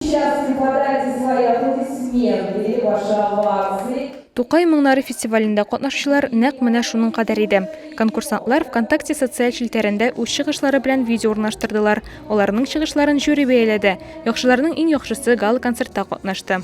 Сейчас вы подайте свои аплодисменты или ваши овации. Тукай моңнары фестивалендә катнашучылар нәкъ менә шуның кадәр иде. Конкурсантлар ВКонтакте социаль челтәрендә үз чыгышлары белән видео урнаштырдылар. Аларның чыгышларын жюри бәяләде. Яхшыларның иң яхшысы гала концертта катнашты.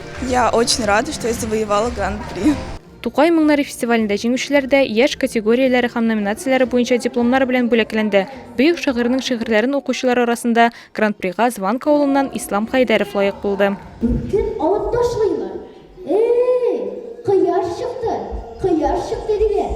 Я очень рада, что я завоевала гран-при. Тукай моңнары фестивалендә җиңүчеләр дә яшь категорияләре һәм номинацияләре буенча дипломнар белән бүләкләнде. Бөек шагыйрьнең шигырьләрен укучылар арасында Гран-прига Званка авылыннан Ислам Хәйдәров лаек булды. Кем алып ташлыймы? Эй, кояш чыкты, кояш чыкты, диләр.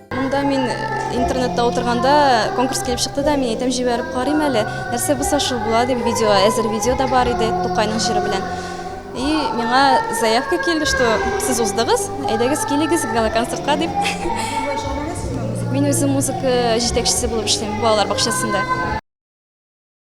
Монда мин интернетта отырганда конкурс килеп чыкты да, мин әйтәм җибәреп карыйм әле, нәрсә булса шул була дип видео, әзер видео да бар иде Тукайның җыры белән. И миңа заявка килде, что сез уздыгыз, әйдәгез килегез галоконцертка дип. Мин үзем музыка җитәкчесе булып эшлим балалар бакчасында.